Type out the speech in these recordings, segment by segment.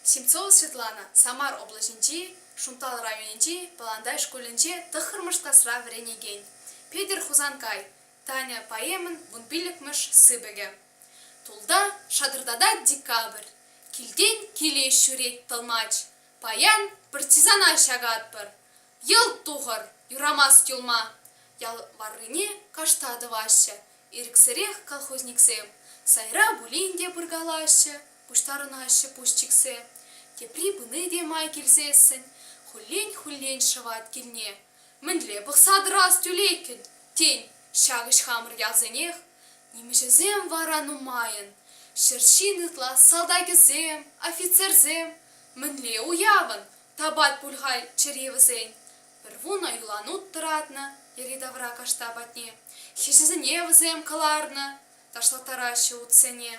Симцова Светлана Самар облаҫӗнчи Шунтал районӗнчи Пӑлантай шкулӗнче тӑххӑрмӗш класра вӗренекен, Петӗр Хусанкай, Таня поэмӑн вун пиллӗкмӗш сыпӑкӗ. Тулта шатӑртатать декабрь, килтен киле ҫӳрет тӑлмач. Паян партизана ҫакатпӑр. Йӑлт тухӑр, юрамасть юлма. Ял варрине кашта тӑваҫҫӗ, Ирӗксӗрех колхозниксем сайра пулин те пыркалаҫҫӗ, пуҫтарӑнаҫҫӗ пуҫ чиксе. Тепри пыни те май килсессӗн хуллен-хуллен шӑвать килне. Мӗнле пӑхса тӑрас тӳлеккӗн, тен, ҫак ӗҫ хамӑр ялсенех? Нимӗҫӗсем вара нумайӑн, ҫӗр ҫин ытла салтакӗсем, офицерсем. Мӗнле уявӑн, тапать пуль халь чӗри вӗсен. Пӗр вунӑ юланут тӑратнӑ йӗри-тавра кашта патне. Хӗҫӗсене вӗсем кӑларнӑ, ташлаттараҫҫӗ утсене.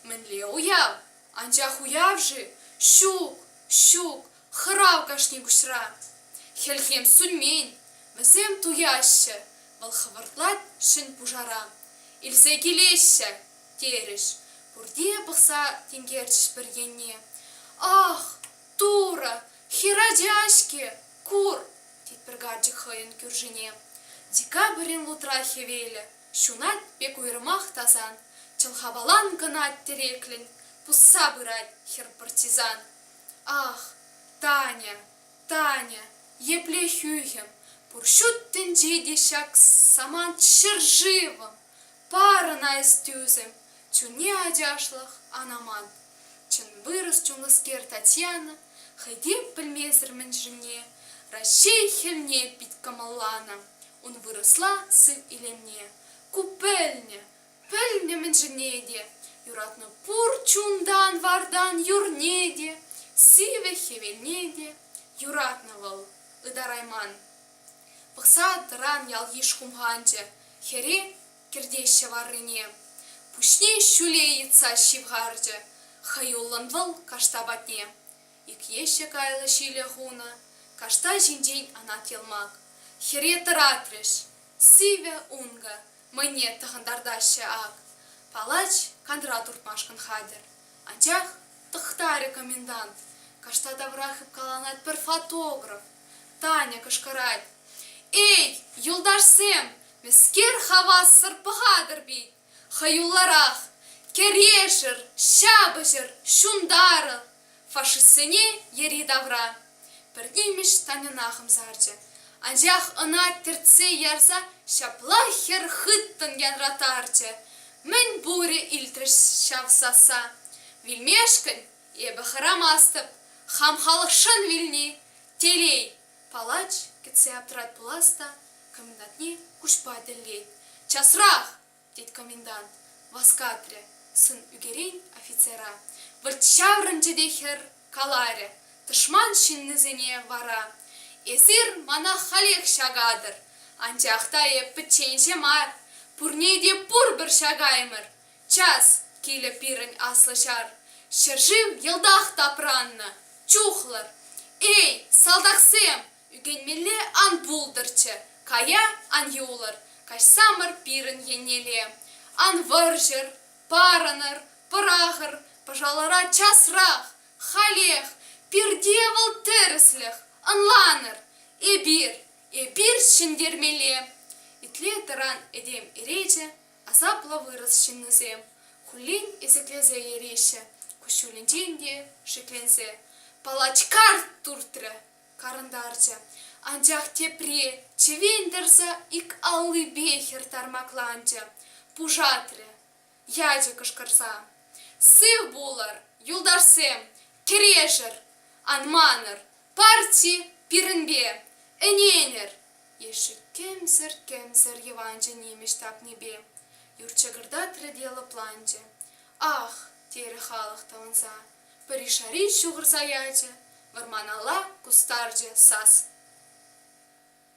Мӗнле уяв? Анчах уяв-ши? Ҫук, ҫук, хӑрав кашни пуҫра. Хӗлхем сӳнмен, вӗсем туяҫҫӗ, вӑл хӑвӑртлать ҫӗн пушара. Илсе килеҫҫӗ, терӗҫ. Пурте пӑхса тинкерчӗҫ пӗр енне. Ах, Турӑ, хӗр ача-ҫке, кур! тетпӗр карчӑк хӑйӗн кӳршине. Декабрьӗн лутра хӗвелӗ ҫунать пек уйрӑмах тасан, чӑлхапалан кӑнать тӗреклӗн, пусса пырать хӗр партизан. Ах, Таня, Таня, епле хӳхӗм, пур ҫут тӗнче те ҫак самант ҫӗршывӑм! Парӑна эс тӳсӗм, чунне ачашлӑх ан аман. Чӑн вырӑс чунлӑскер Татьяна хӑй те пӗлмесӗр мӗншӗнне Раҫҫей хӗлне пит кӑмӑлланӑ. Ун вырӑсла сыв илемне ку пӗлнӗ, пӗлнӗ мӗншӗнне те. Юратнӑ пур чунтан-вартан юрне те, сивӗ хӗвелне те. Юратнӑ вӑл ытарайман. Пӑхса тӑран ялйыш хумханчӗ, хӗре кӗртеҫҫӗ варрине. Пуҫне ҫӳле йӑтса ҫывхарчӗ хӑюллӑн вӑл кашта патне. Икеҫҫӗ кайлӑ ҫилӗ хунӑ кашта ҫинчен анат йӑлмак. Хӗре тӑратрӗҫ. Сивӗ ункӑ, мӑйне тӑхӑнтартаҫҫӗ ак. Палач кантӑра туртмашкӑн хатӗр. Анчах тӑхтарӗ комендант. Кашта тавра хыпкаланать пӗр фотограф. Таня кӑшкӑрать: «Эй, юлташсем, мӗскер хавассӑр пӑхатӑр пит? Хӑюлларах! Кӗрешӗр, ҫапӑҫӑр, ҫунтарӑр!» фашистсене йӗри-тавра пӗр нимӗҫ Таньӑна хӑмсарчӗ. Анчах ӑна тӗртсе ярса ҫапла хӗр хыттӑн янратарчӗ. Мӗн пурӗ илтрӗҫ ҫав сасса? Вилмешкӗн Эпӗ хӑрамастӑп, хам халӑхшӑн вилни, телей! Палач кӗтсе аптӑрать пулас та комендантне куҫпа тӗллет. Часрах! тет комендант, васкатрӗ сӑн ӳкерен офицера. Вӑрт ҫаврӑнчӗ те хӗр каларӗ тӑшман ҫыннисене, вара эсир мана халех ҫакатӑр. Анчах та эп пӗчченҫӗ мар, пурне те пурпӗр ҫакаймӑр, Час килӗ пирӗн аслӑ ҫар. Ҫӗршыв йӑлтах тапраннӑ чухлӑр. Эй, салтаксем, ӳкӗнмелле ан пултӑрччӗ, кая ан юлӑр, каҫсамӑр пирӗн еннелле. Ан вӑрҫӑр, парӑнӑр, пӑрахӑр, пӑшалӑра часрах, халех, пирте вӑл тӗрӗслӗх, ӑнланӑр. Эпир, эпир ҫӗнтермелле! итле тӑран этем иречӗ Асаплӑ вырӑс ҫыннисем хуллен ӗсӗклесе йӗреҫҫӗ, куҫҫулӗнчен те шикленсе палачкар туртрӗ, карӑнтарчӗ, анчах тепри чӗвен тӑрса ик аллипе хӗр тармакланчӗ, пушатрӗ. Ячӗ кӑшкӑрса. Сыв пулӑр, юлташсем, кӗрешӗр! Ан манӑр, парти пирӗнпе ӗненӗр! ешӗккемсӗр-кемсӗр йӑванчӑ нимӗҫ тапнипе юр чӑкӑртатрӗ те лӑпланчӗ. «Ах!» терӗ халӑх тӑвӑнса. Пӗришари ҫухӑрса ячӗ, вӑрманалла кустарчӗ сас.